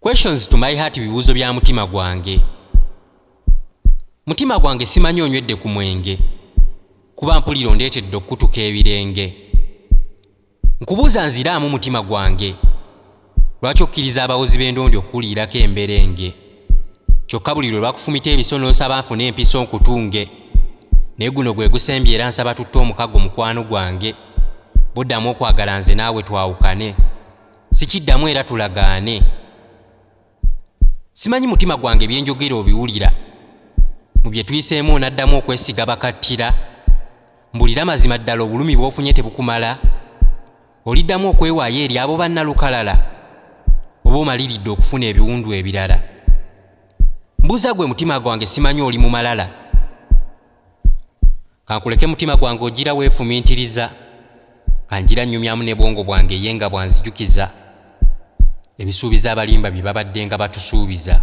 questions to my heart bibuuzo bya mutima gwange mutima gwange simanyi onywedde ku mwenge kuba mpulira ondeetedde okukutuka ebirenge nkubuuza nziraamu mutima gwange lwaki okkiriza abawozi b'endondi okukuliirako emberenge kyokka buli lwe lwakufumita ebiso n'onsaba nfune empiso nkutunge naye guno gwe gusembye era nsaba tutte omukago mukwano gwange buddamu okwagala nze naawe twawukane sikiddamu era tulagaane simanyi mutima gwange byenjogera obiwulira mu bye tuyiseemu onaddamu okwesiga bakattira mbulira mazima ddala obulumi bwofunye tebukumala oliddamu okwewaayo eri abo bannalukalala oba omaliridde okufuna ebiwundu ebirala mbuuza gwe mutima gwange simanyi oli mumalala kankuleke mutima gwange ogira weefumintiriza kanjira nnyumyamu ne bwongo bwange ye nga bwanzijukiza ebisuubiza abalimba bye babadde nga batusuubiza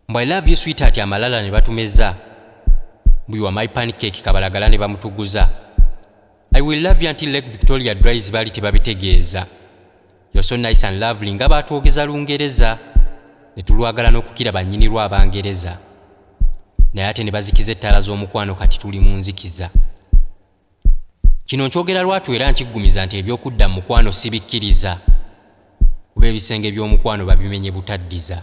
mbwa ilove you sweetheart amalala ne batumeza bwiwa my pancake kabalagala ne bamutuguza I will love you until Lake Victoria dries bali tebabitegeeza. You're so nice and lovely nga baatwogeza Lungereza ne tulwagala n'okukira bannyini lwa Abangereza. Naye ate ne bazikiza ettaala z'omukwano kati tuli mu nzikiza. Kino nkyogera lwatu era nkiggumiza nti eby'okudda mu mukwano sibikkiriza kuba ebisenge by'omukwano babimenye butaddiza.